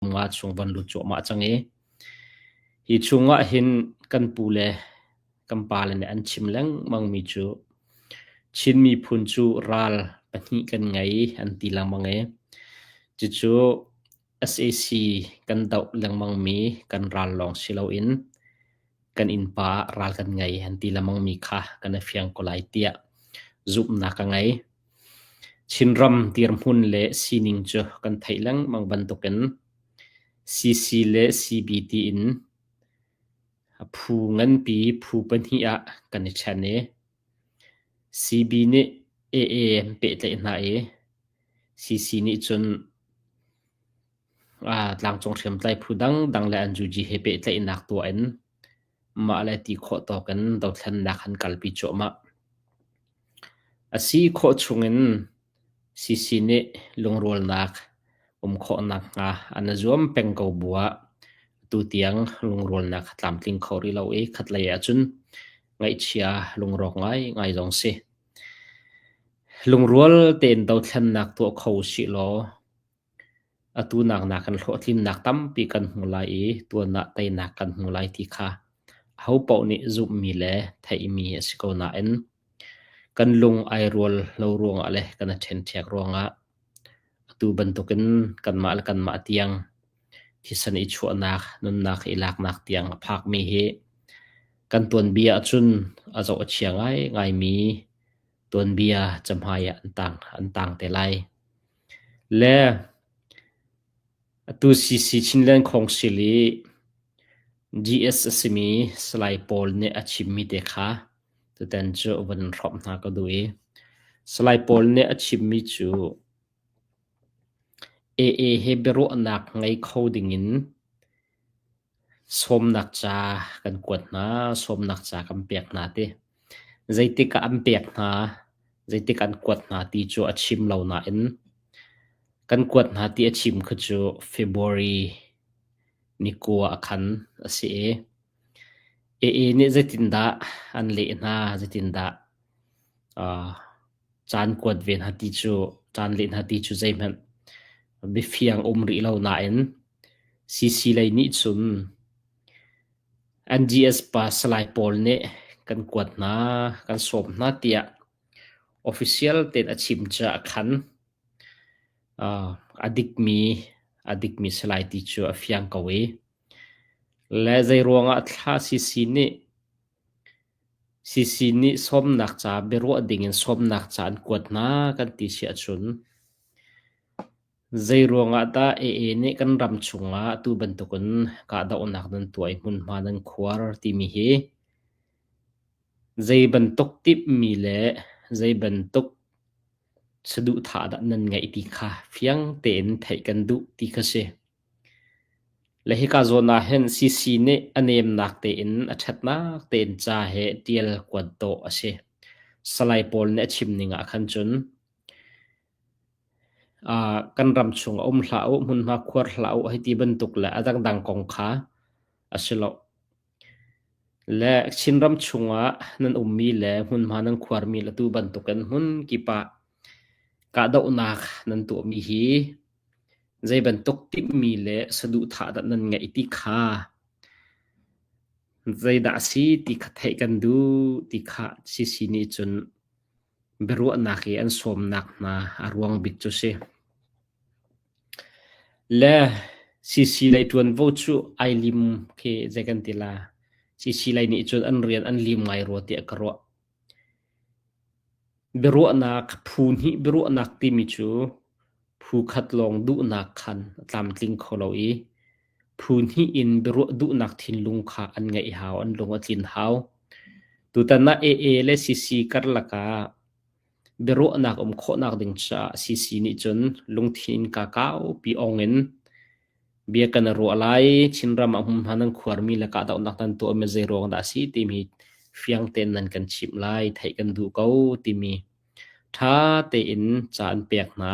Mungah chung van lut cuahmah cang i hi chungah hin kan pu le kan pale nih an chim lengmangmi cu Chin miphun cu ral pahnih kan ngei an ti lengmang i cucu SAC kan doh lengmangmi kan ral lawng si loin kan innpa ral kan ngei an ti lengmangmi kha kan i fiang ko lai tiah zumhnak ka ngei. Chinram dirhmun le sining cu kan theih lengmang bantukin CC le CB tiin a phu nganpi phu pahnih ah kan i ṭhen i CB nih AA an pehtlaih hna i CC nih cun tlangcung hriamtlai phu dangdang le an zuji he pehtlaihnak tuah in Mahle ti khawh tawk in dothlennak an kalpi cuahmah. A si khawh chung in CC nih lungrualnak um khawh nakhnga an i zuam peng ko bu ah tutiang lungrualnak a tlamtling kho rih lo i khatlei ahcun ngaihchia lungrawk ngaingai zong a si. Lungrual tein dothlennak tuah kho usih law Atu nak na kan hlawhtlinnak tampi kan hmu lai i tuan ah teinak kan hmu lai ti kha ahopaoh nih zumhmi le theihmi a si ko nain kan lung ai rual lo ruangah le kan i ṭhenṭhiak ruangah atu bantukin kanmah le kanmah tiang thisen i chuahnak nunnak i laknak tiang a phakmi hi kan tuanbia ahcun a zoh a chia ngaingaimi tuanbia cahmai ah an tang an tang te lai. Le atu CC Chinland Council i DS a simi Salai pawl nih a chimmi te kha tutan cu a vun hrawmh hna ka duh i Salai pawl nih a chimmi cu AA he biaruahnak ngei kho dingin Sawmnak ca kan kuat hna, sawmnak ca kan pek hna ti. Zeitik ah an pek hna, zeitik an kuat hna ti cu a chim lo nain kan kuat hna ti a chim kha cu February ni kua a khan a si i AA nih zeitindah an leh hna, zeitindah aa Caan kuat ve hna ti cu, caan leh hna ti cu zeihmanh bifiang a um rih lo nain CC lei nih cun NGS pa Salai pawl nih kan kuat hna, kan sawm hna tiah official tein a chim cu a khan. A dikmi, a dikmi si lai ti cu a fiang ko i, le zeiruangah thla CC nih Sisi nih sawmnak ca biaruah dingin sawmnak ca an kuat hna kan ti si ahcun zeiruangah dah AA nih kan ram chungah atu bantukin kahdohnak nan tuah i hmunhma nan khuar timi hi zei bantuk timhmi le zei bantuk saduhthah dah nan ngeih ti kha fiang tein theih kan duh ti kha si. Le hika zawn ah hin CC nih a nemnak tein a ṭhatnak tein ca he ṭial kuat dawh a si. Salai pawl nih a chim ning ah khan cun aa kan ram chung a um hlah u, hmunhma khuar hlah u, hiti bantuk le a dangdang kong kha a si lo. Le Chinram chungah nan ummi le hmunhma nan khuarmi atu bantukin hmun kip ah kahdohnak nan tuahmi hi zeibantuk timhmi le saduhthah dah nan ngeih ti kha zeidah a si ti kha theih kan duh ti kha CC nih cun biaruahnak i an sawmnak hna a ruang bik cu si. Le CC lei ṭuanvo cu ai lim khi zei kan ti la. CC lei nih cun an rian an lim ngai rua tiah ka ruah. Biaruahnak phu hnih biaruahnak timi cu phu khat lawng duhnak khan a tlamtling kho lo i phu hnih in biaruah duhnak thinlung kha an ngeih hau, an lung a tlin hau. Tutan ah AA le CC karlak ah Biaruahnak um khawhnak ding caah CC nih cun lungthin innka kaupi awng in bia kan i ruah lai. Chinram ah hmunhma nan khuarmi le kahdohnak nan tuahmi zeiruang dah a si timi fiang tein nan kan chimh lai. Theih kan duh ko timi ṭha tein ca an pek hna.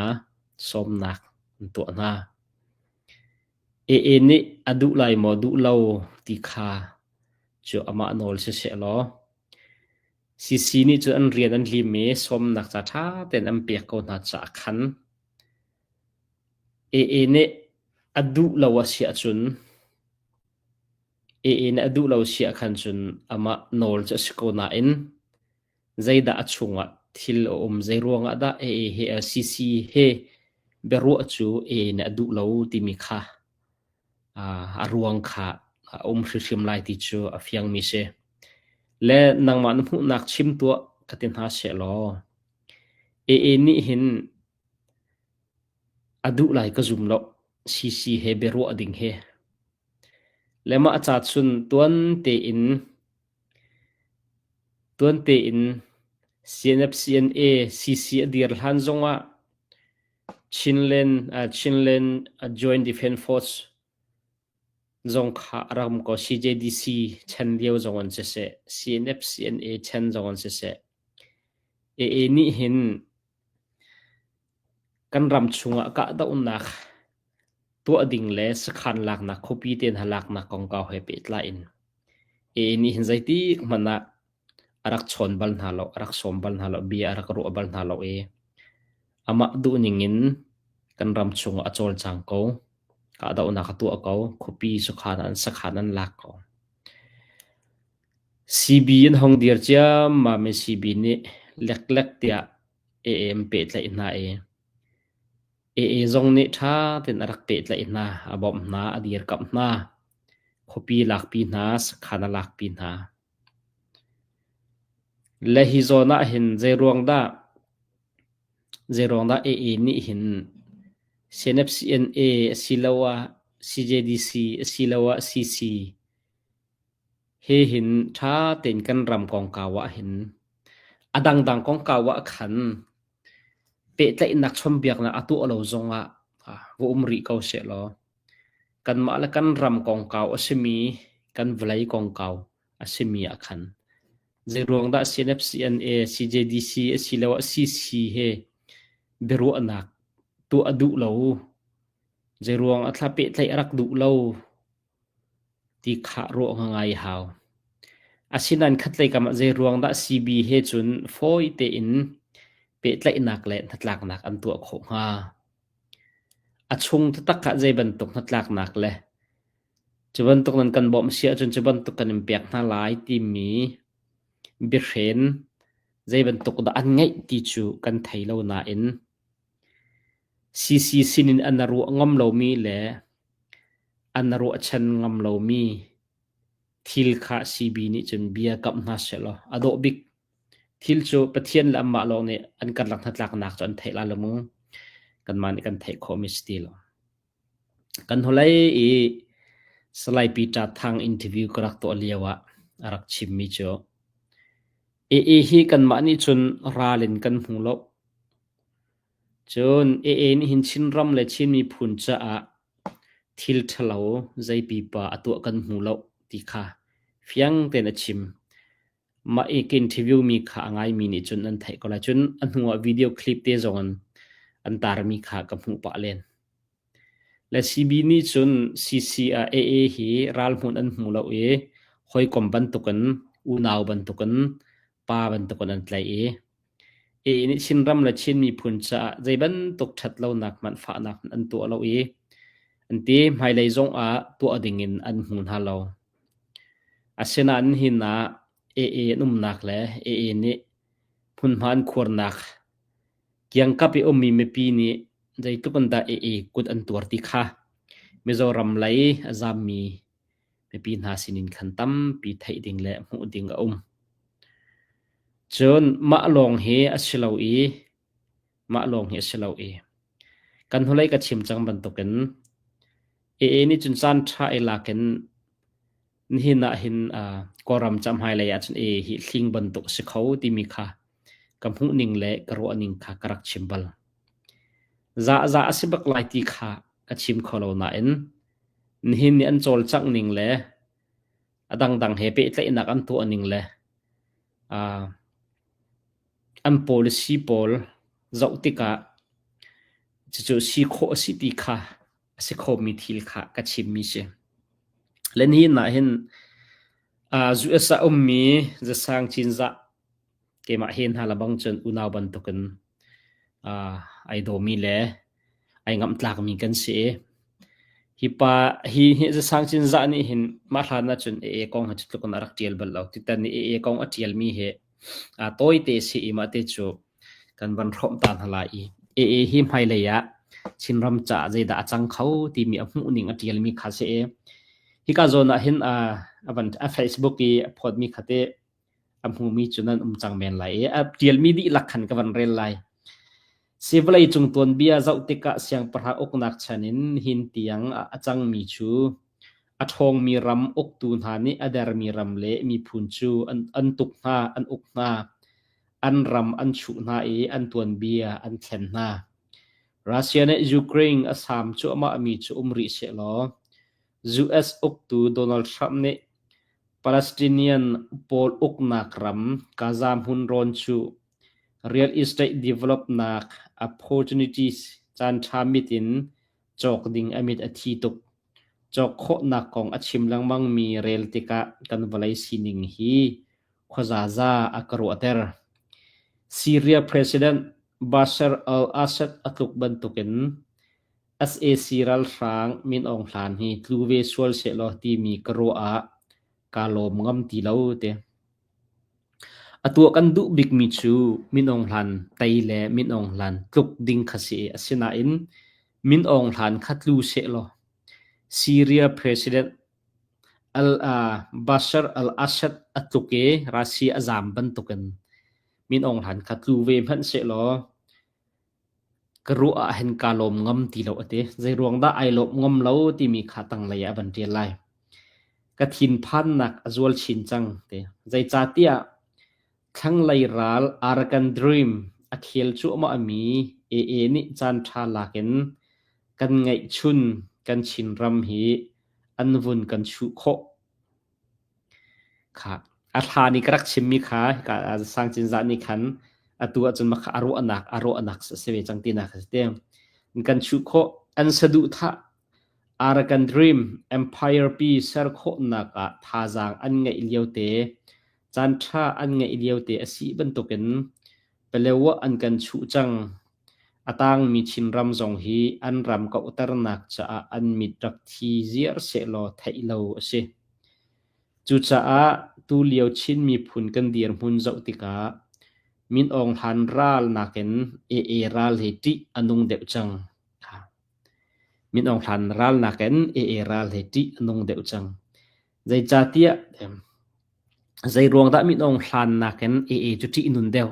Sawmnak an tuah hna. AA nih a duh lai maw duh lo ti kha cu amah nawl siseh law Sisi nih cun an rian an lim i sawmnak ca ṭha tein an pek ko hna caah khan Ee nih a duh lo a si ahcun Ee nih a duh lo si ahkhan cun amah nawl cu a si ko nain zeidah a chungah thil a um, zeiruangah dah Ee he, Sisi he biaruah cu Ee nih a duh lo timi kha a ruang kha a um hrimhrim lai ti cu a fiangmi si. Le nangmah na hmuhnak chim tuah ka ti hna sehlaw AA nih hin a duh lai ka zum loh CC he biaruah ding hi. Le mah a ca cun tuan tein tuan tein CNF, CNA, CC a dir hlan zongah Chinland a Joint Defence Force zong kha a ram ko CJDC chan lio zong an siseh, CNF-CNA chan zong an siseh, AA nih hin kan ram chungah kahdohnak tuah ding le sakhan laknak khuapi te hna laknak kongkau he pehtlai in AA nih hin zeitik hmanh ah A rak chawn bal hna lo, a rak sawm bal hna lo, bia a rak ruah bal hna lo i amah duhning in kan ram chungah a cawlcang ko. Kahdohnak a tuah ko. Khuapi sakhan ah an sakhan an lak ko. CB an hong dir ciammam i CB nih leklek tiah AM pehtlaih hna i AA zong nih ṭha tein a rak pehtlaih hna. A bawmh hna, a dirkamh hna. Khuapi lakpi hna, sakhan a lakpi hna. Le hi zawn ah hin zeiruangdah AA nih hin CNFCNA asiloah CJDC asiloah CC he hin ṭha tein kan ram kongkau ah hin a dangdang kongkau ah khan Pehtlaihnak chawnhbiaknak a tuah lo zongah va um rih ko sehlaw kanmah le kan ram kongkau a simi kan vawlei kongkau a simi ah khan zeiruang dah CNFCNA, CJDC asiloah CC he biaruahnak tuah a duh lo? Zeiruang ah thla pehtlaih a rak duh lo? ti khah rawh ngai a hau. Asinain khatlei kamah zeiruang dah CB he cun fawi tein pehtlaihnak le hnatlaknak an tuah khawh hnga? A chung taktak ah zeibantuk hnatlaknak le cu bantuk nan kan bawmh si ahcun cu bantuk kan in pek hna lai timi biahren zeibantuk dah an ngeih ti cu kan thei lo nain CC sin in an ruah ngam lomi le an ruahchan ngam lomi thil kha CB nih cun bia kamh hna sehlaw a dawh bik. Thil cu Pathian le anmah lawng nih an karlak hnatlaknak cu an theih lai lo mu. Kanmah nih kan theih khawhmi si ti lo. Kan hnulei i Salaipi Ṭa Thang interview ka rak tuah lio ah a rak chimmi cu Aa hi kanmah nih cun ral in kan hmu lo. Cun Aa nih hin Chinram le Chin miphun caah thil ṭhalo, zei pipa a tuah kan hmu lo ti kha fiang tein a chim. Mah i ka interview mi kha a ngaimi nih cun an theih ko lai. Cun a hnuah video clip te zong an, an tarmi kha ka hmuh pah len. Le CB nih cun CCA AA hi ralhmunh an hmu lo i hawikom bantukin, unau bantukin, pa bantukin an tlaih i A nih Chinram le Chin miphun caah zeibantuk ṭhatlonak hmanh fahnak an tuah lo i an ti hmailei zongah tuah dingin an hmu hna lo. Asinain hi hna AA an umnak le AA nih hmunhma an khuarnak kiangkap i ummi mipi nih zeitluk in dah AA kut an tuar ti kha Mizoram lei a zaammi Mipi hna sinin khan tampi theih ding le hmuh ding a um. Cun mah lawng hi a si lo i mah lawng hi a si lo i kan hnulei ka chim cang bantukin e nih cun caan ṭha i lakin nihin ah hin uh, Kawlram cahmailei ah cun e hi hling bantuk a si kho timi kha ka hmuhning le ka ruahning kha ka rak chim bal. Zahza a si bak lai ti kha ka chim kho lo nain nihin nih an cawlcangh ning le a dangdang he pehtlaihnak an tuah ning le uh, an policy pawl zoh tikah cucu si khawh a si ti kha a si khomi thil kha ka chimmi si. Le nihin ah hin uh, US a ummi zasang cinzah Keimah hen hna lebang cun unau bantukin aa ai dawmi le ai ngamhtlakmi kan si i hi pa hi hi zasang cinzah nih hin mah hlan ahcun AA kong hi cutluk in a rak ṭial bal lo. Tutan i AA kong a ṭialmi hi aa tawite a si i mah te cu kan van hrawm ta hna lai i AA hi hmailei ah Chinram caah zeidah a cang kho timi a hmuhning a ṭialmi kha si i hika zawn ah hin aa a van a Facebook i a phawtmi kha teh a hmumi cu nan um cang men lai i a ṭialmi dihlak khan ka van rel lai. Si vawlei cung tuanbia zoh tikah siangpahrang uknak chan in hin tiang a cangmi cu a ṭhawngmi ram uktu hna nih a dermi ram le miphun cu an tuk hna, an uk hna, an ram an chuh hna i an tuanbia an thlen hna. Russia nih Ukraine a sam cuahmahmi cu um rih seh law US uktu Donald Trump nih Palestinian pawl uknak ram Gaza hmun rawn cu real estate developnak opportunities caanṭha mit in cawk ding a mit a thi tuk. Cawk khawhnak kong a chim lengmangmi rel tikah kan vawlei sining hi khuazaza a ka ruahter. Syria President Bashar al-Assad a tluk bantukin Sac ralhrang Min Aung Hlain hi tlu ve sual sehlaw timi ka ruah ah kaa lawm ngam ti lo te. A tuah kan duh bikmi cu Min Aung Hlain tei le Min Aung Hlain tluk ding kha si. Asinain Min Aung Hlain kha tlu sehlaw Syria President Bashar al-Assad a tluk i Russia a zaam bantukin Min Aung Hlain kha tlu ve hmanh sehlaw Ka ruah ah hin kaa lawm ngam ti lo a ti. Zeiruang dah ai lawm ngam lo timi kha tanglei ah a van ṭial lai. Ka thinphannak a zual chin cang ti. Zeicahtiah thlanglei ral Arakan Dream a khel cuahmahmi AA nih caanṭha lak in kan ngeihchun kan Chinram hi an vun kan chuh khawh. A thla nih ka rak chimmi kha hika sang cinzah nih khan atu ahcun mah kha a ruahnak a ruahnak a si ve cang tinak a si te. Kan chuh khawh an saduhthah Arakan Dream Empire pi ser khawhnak ah thazaang an ngeih liote caanṭha an ngeih liote a si bantukin Palewa an kan chuh cang. A tangmi Chinram zong hi an ram kauhternak caah an mit rak thi ziar sehlaw theih lo a si. Cucaah tulio Chin miphun kan dirhmun zoh tikah Min Aung Hlain ral nakin AA ral hi ṭih a nung deuh cang. Min Aung Hlain ral nakin AA ral hi ṭih a nung deuh cang. Zeicahtiah zeiruang dah minung hlan nakin AA cu ṭihnun deuh?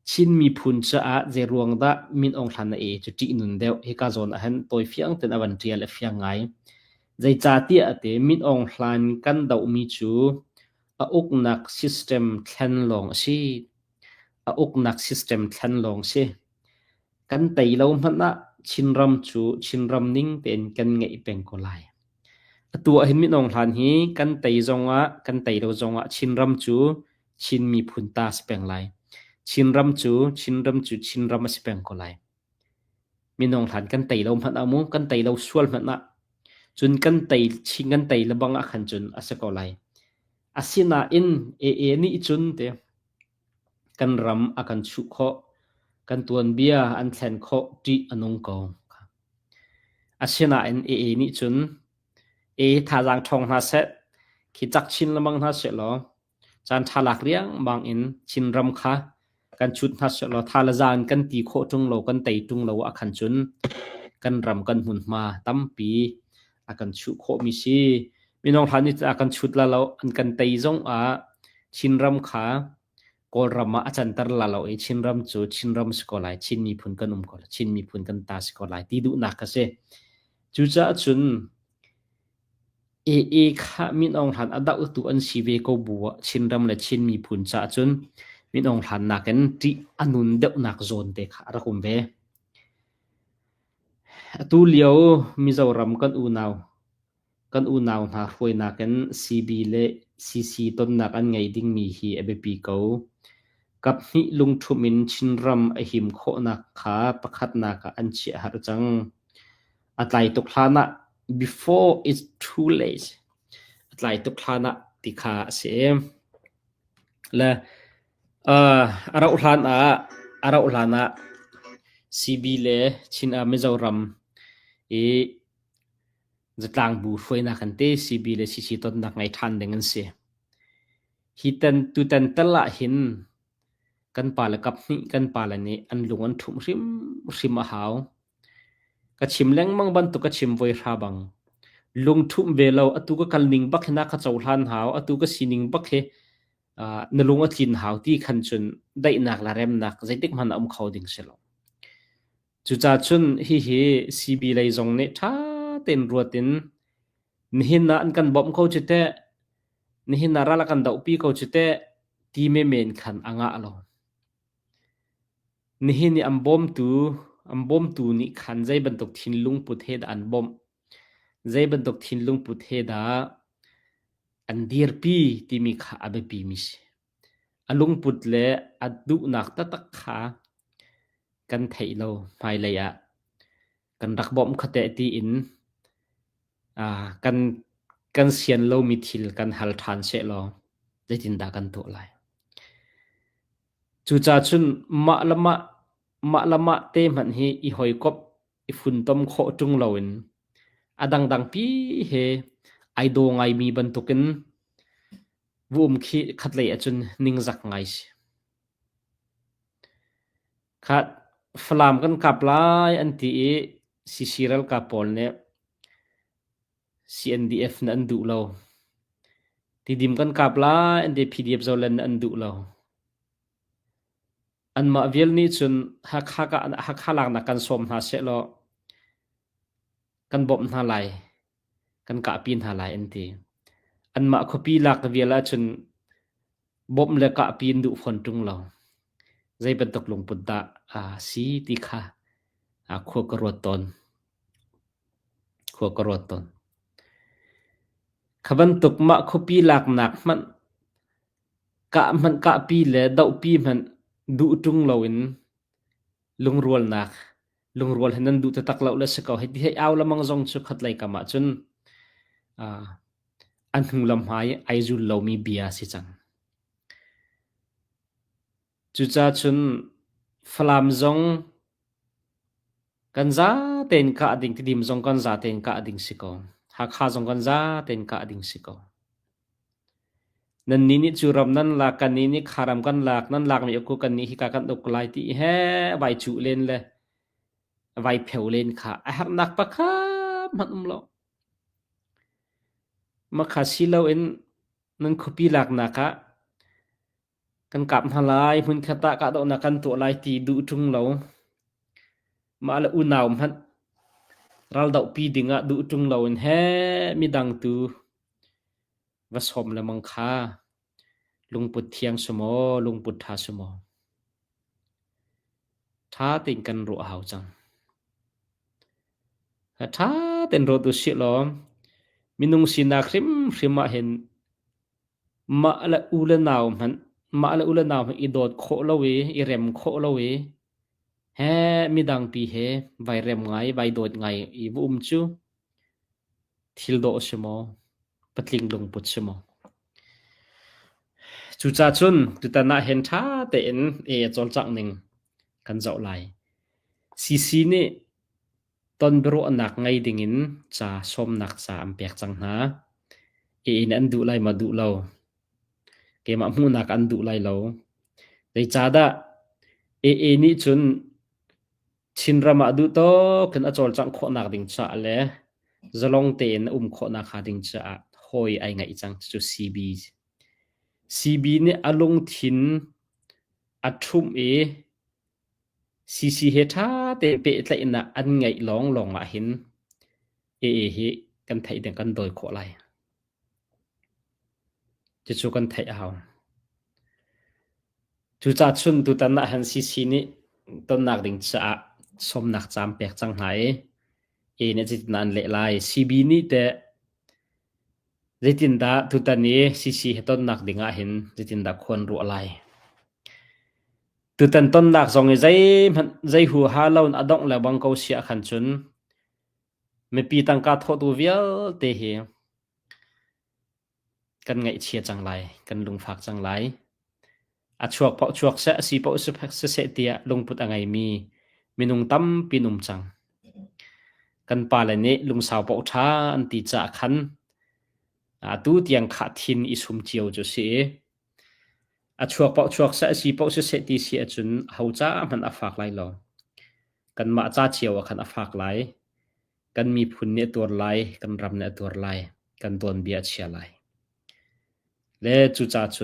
Chin miphun caah zeiruang dah minung hlan ah AA cu ṭihnun deuh hika zawn ahhin tawi fiang tein a van ṭial i a fiang ngai. Zeicahtiah a ti minung hlan kan dohmi cu a uknak system thlen lawng a si. A uknak system thlen lawng a si. Kan tei lo hmanh ah Chinram cu Chinram ning tein kan ngeih peng ko lai. Atu ah hin minung hlan hi kan tei zongah kan tei lo zongah Chinram cu Chin miphun ta si peng lai. Chinram cu Chinram cu Chinram a si peng ko lai. Minung hlan kan tei lo hmanh ah mu kan tei lo sual hmanh ah cun kan tei Chin kan tei lebang ah khan cun a si ko lai. Asinain AA nih cun te Kan ram a kan chuh khawh, kan tuanbia an thlen khawh ṭih a nung ko. Asinain AA nih cun "ee thazaang ṭhawng hna seh, khi cak chin lengmang hna seh law, caan ṭha lak riangmang in Chinram kha kan cut hna seh law, thalazang in kan ti khawh ṭung lo, kan tei ṭung lo ahkhan cun kan ram kan hmunhma tampi a kan chuh khawhmi si. Minung hlan ni a kan chut la lo an kan tei zong ah Chinram kha Kawlram ah a canter la lo i Chinram cu Chinram si ko lai Chin miphun kan um ko lai Chin miphun kan ta si ko lai ti duhnak ka si. Cucaah cun e e kha min ong hlan a doh tu an si ve ko bu Chinram le Chin miphun ca cun min ong hlan nakin ti anun deuh nak zawn te kha a rak um ve. Atulio Mizoram kan unau hna hruainak in CB le CC tonnak an ngei dingmi hi a biapi ko. Kaphnih lungṭhumh in Chinram a him khawhnak kha pakhatnak ah an chiah har cang. A tlai tuk hlanah before is too late a tlai tuk hlanah ti kha a si. Le A rauh hlan ah CB le Chin ah Mizoram i zatlang bu hruainak an ti. CB le CC tonnak ngei ṭhan ding an si. Tutan tal ahhin kan pale kaphnih kan pale nih an lung an ṭhumh hrimhrim a hau. Ka chim lengmang bantuk ka chim voi hra bang, lung ṭhumh ve lo atu ka kal ning bak hi na ka cohlan hau, atu ka sining bak hi na lung a tlin hau ti khan cun daihnak le remnak zeitik hmanh a um kho ding si lo. Cucaah cun hihi CB lei zong nih ṭha tein ruat in nihin ah an kan bawmh ko cu teh, nihin ah ral a kan dohpi ko cu teh, ti me men khan a ngah lo. Nihin i an bawmtu, an bawmtu nih khan zei bantuk thinlungput he dah an bawmh Zei bantuk thinlungput he dah an dirpi timi kha a biapimi si. A lungput le a duhnak taktak kha kan theih lo hmailei ah. Kan rak bawmh khuate tiin aa kan kan sian lomi thil kan hal ṭhan seh law zeitindah kan tuah lai? Cucacun mah le mah, mah le mah te hmanh hi i hawikomh i funtom khawh ṭung loin a dangdangpi he ai daw ngaimi bantukin va um khi khatlei ahcun ningzak ngai si. Kha Falam kan kap lai an ti i CC ralkap pawl nih CNDF na an duh lo. Tidim kan kap lai an ti PDF zolen an duh lo. Anmah vial nih cun Hakha laknak kan sawm hna sehlaw kan bawmh hna lai, kan kahpi hna lai an ti. Anmah khuapi lak vial ahcun bawmh le kahpi an duh fawn ṭung lo. Zei bantuk lungput dah a si ti kha khua ka ruat tawn. Khua ka ruat tawn. Kha bantuk mah khuapi laknak hmanh Kah hmanh kahpi le dohpi hmanh duh ṭung loin lungrualnak, lungrual he nan duh taktak lo le si ko hei ti hei au lemang zong cu khatlei kam ahcun aa a hnulama i ai zul lomi bia a si cang. Cucacun Falam zong kan zate in kah ding, Tidim zong kan zate in kah ding si ko. Hakha zong kan zate in kah ding si ko. Nan ni nih cu ram nan lak, kan ni nih kharam kan lak, nan lak mi uku kan ni hi ka kan uk lai ti he vai cu len le vai pheu len kha a harnak pakhat man um lo. Makha silo in nan khupi lak nak ah Kan kap hna lai, hmunkhat ah kahdohnak kan tuah lai ti duh ṭung lo. Mah le unau hmanh raldohpi dingah duh ṭung loin he midang tu va sawm lengmang kha lungput thiang si maw, lungput ṭha si maw, ṭha tein kan ruah a hau cang. A ṭha tein ruat usih law minung sinak hrimhrim ah hin Mah le u le nau hmanh i dawt khawh lo i i rem khawh lo i midangpi he vai rem ngai, vai dawt ngai i va um cu thil dawh a si maw, patling lungput si maw. Cucacun tutan ah hin ṭha tein e a cawlcangh ning kan zoh lai. CC nih Tonbiaruahnak ngei dingin ca sawmnak ca an pek cang hna. Ka inn an duh lai maw duh lo. Keimah hmuhnak an duh lai lo. Zeicahdah AA nih cun Chinram ah duhtawk in a cawlcangh khawhnak ding caah le zalong tein a um khawhnak hnga ding caah hawi ai ngeih cang. Cucu CB. CB nih a lungthin a ṭhumh i Sisi he ṭha tein pehtlaihnak an ngeih lawnglawng ahhin ee hi kan theih ding kan dawi khawh lai. Cucu kan theih a hau. Cucachun tutan ahhin Sisi nih tonnak ding caah sawmnak caam pek cang hna i ee nih zeitindah an leh lai. CB nih teh zeitindah tutan i Sisi he tonnak ding ahhin zeitindah khuan ruah lai. Tutan tonnak zong i zeihmanh zei huaha loin a dongh lebang ko siah khan cun mipi tangka thawhtu vialte hi kan ngaihchia cang lai, kan lungfak cang lai. A chuak paoh chuak seh, a si paoh siseh tiah lungput a ngeimi minung tampi num cang. Kan pale nih lungsau paoh ṭha an ti caah khan atu tiang khah thin i sum cio cu si i A chuak paoh chuak seh, a si paoh siseh ti si ahcun aho ca ah hmanh a fak lai lo. Kanmah ca cio ah khan a fak lai. Kan miphun nih a tuar lai, kan ram nih a tuar lai, kan tuanbia a chia lai. Le cucacun